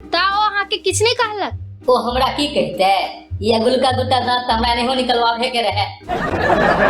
ता ओ अहाँ के किछ नहीं कहलक ओ हमरा की कहते ई अगुलका दूटा दांत त हमरा नहियो निकलवावे के रहे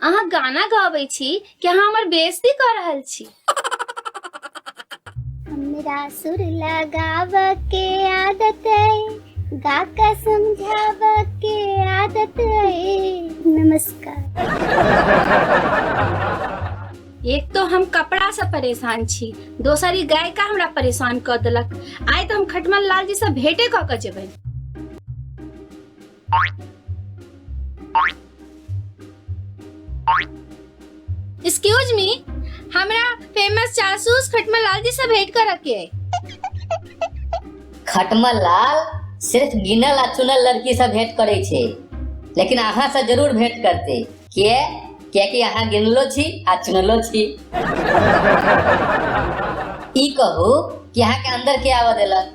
अहाँ गाना गाबै छी कि अहाँ हमर बेइज्जती कऽ रहल छी हमरा सुर लगाव के आदत है गा के समझाव के आदत है नमस्कार एक तो हम कपड़ा से परेशान छी दोसर ई गायिका हमरा परेशान कऽ देलक आइ तऽ हम खटमल लाल जी से भेटे कऽ के जेबै एक्सक्यूज मी हमरा फेमस जासूस खटमल लाल जी से भेंट कर के है खटमल लाल सिर्फ गिनल आ चुनल लड़की से भेंट करे छे लेकिन अहाँ से जरूर भेंट करते किए कियाकि अहाँ गिनलो छी आ चुनलो छी ई कहू कि अहाँ के अंदर के आवा देलक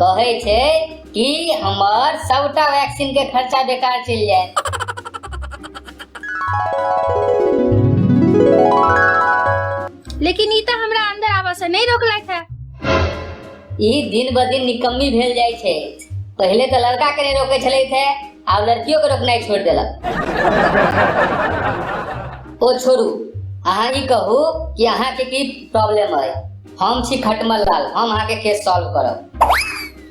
कहै छै कि हमर सबटा वैक्सीन के खर्चा बेकार चलि जाए लेकिन ई तऽ हमरा अंदर आबऽ से नहि रोकलथि है ई दिन ब दिन निकम्मी भेल जाइ छै पहिले तऽ लड़का के नहीं रोके छलै थे आब लड़कियों के रोकनाइ छोड़ देलक ओ छोड़ू अहाँ ई कहू कि अहाँ के की प्रॉब्लम है हम छी खटमल लाल हम अहाँके केस सॉल्व करब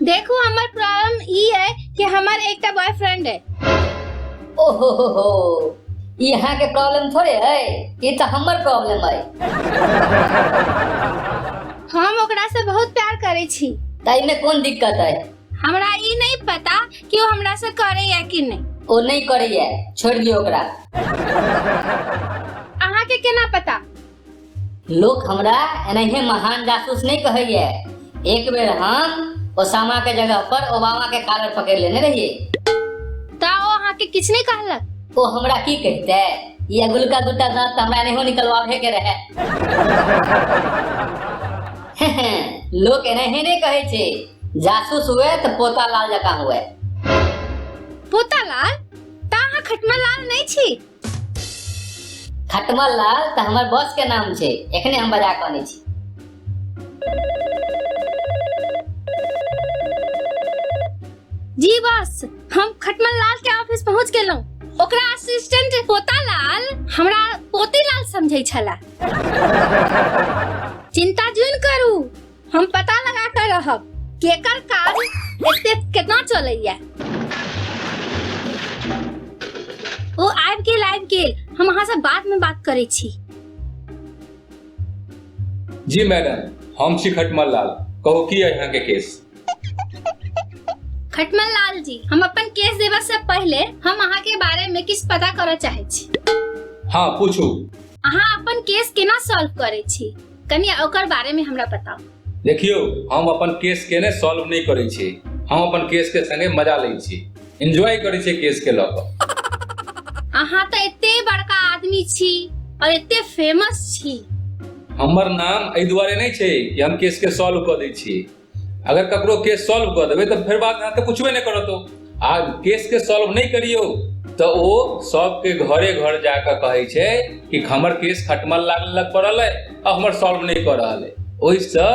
देखो हमर प्रॉब्लम ई है कि हमर एकटा बॉयफ्रेंड है ओहो हो हो ई अहाँके प्रॉब्लम थोड़े है ई तऽ हमर प्रॉब्लम है हम ओकरा से बहुत प्यार करे छी ताई में कौन दिक्कत है हमरा ई नहीं पता कि वो हमरा से करे या कि नहीं ओ नहीं करैए छोड़ दियो ओकरा अहाँ के केना पता लोक हमरा एनाहे महान जासूस नहीं कहैए एक बेर हम ओसामा के जगह पर ओबामा के कालर पकड़ लेने रहिए ता ओ अहाँ के किछ नहीं कहलक ओ हमरा की कहते ये अगुल का दूटा दांत तो हमरा नहीं निकलवावे के रहे लोक एनाहे नहीं कहे छे जासूस हुए तो पोता लाल जका हुए पोता लाल ता अहाँ खटमा लाल नहीं छी खटमल लाल तऽ हमर बॉस के नाम छै एखने हम बजा कऽ अनै छी जी बॉस हम खटमल लाल के ऑफिस पहुंच गेलहुं ओकरा असिस्टेंट पोता लाल हमरा पोती लाल समझै छला चिंता जुन करू हम पता लगा कर रहब केकर काज एते केना चलैया ओ आबि गेल आबि गेल हम अहाँ से बाद में बात करै छी जी मैडम हम छी खटमल लाल कहू की है यहाँ के केस खटमल लाल जी हम अपन केस देबा से पहले हम अहाँ के बारे में किछ पता करऽ चाहै छी हाँ पूछू अहाँ अपन केस केना सॉल्व करै छी कनी ओकर बारे में हमरा बताओ देखियो हम अपन केस के ने सॉल्व नहीं करे छी हम अपन केस के संगे मजा ले छी एंजॉय करे छी केस के लऽ कऽ अहाँ तो एते बड़का आदमी छी और एते फेमस छी हमर नाम एहि दुआरे नहि छै कि हम केस के सॉल्व कऽ दै छी अगर ककरो केस सॉल्व कऽ देबै तऽ फेर बाद अहाँके पुछबे नहि करत ओ आ केसके सॉल्व नहि करियौ तऽ ओ सबके घरे घर जा कऽ कहै छै कि हमर केस खटमल लागल पड़ल अइ आ हमर सॉल्व नहि कऽ रहल अइ ओहिसँ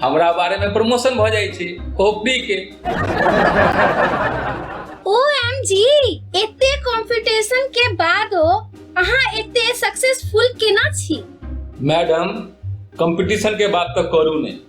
हमरा बारेमे प्रमोशन भऽ जाइ छै खोपड़ीके ओ एम जी एते कॉम्पिटिशन के बादो अहाँ एते सक्सेसफुल केना छी मैडम कंपटीशन के बात तऽ करू नहि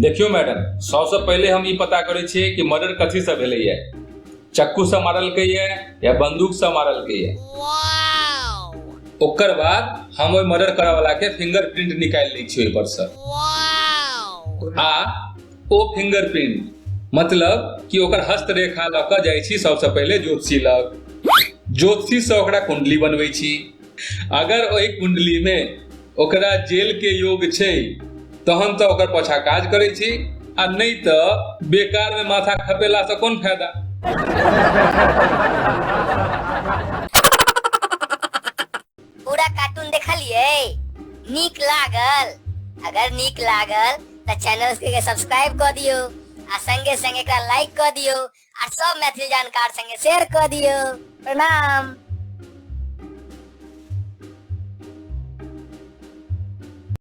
देखियौ मैडम सबसँ पहिले हम ई पता करै छियै कि मर्डर कथीसँ भेलैए चक्कूसँ मारलकैए या बन्दूकसँ मारलकैए ओकर बाद हम ओहि मर्डर करयवलाके फिंगर प्रिंट निकालि लै छियै ओहिपरसँ आ ओ फिंगर प्रिंट मतलब कि ओकर हस्तरेखा लऽ कऽ जाइ छी सबसँ पहिले ज्योतिषी लग ज्योतिषीसँ ओकरा कुण्डली बनबै छी अगर ओहि कुंडली में ओकरा जेल के योग छै तहन तऽ ओकर पाछा काज करै छी आ नहि तऽ बेकार में माथा खपेला से कोन फायदा पूरा कार्टून देखलिए नीक लागल अगर नीक लागल तऽ चैनल के सब्सक्राइब कऽ दियौ आ संगे संगे एकरा लाइक कऽ दियौ आ सब मैथिली जानकार संगे शेयर कऽ दियौ प्रणाम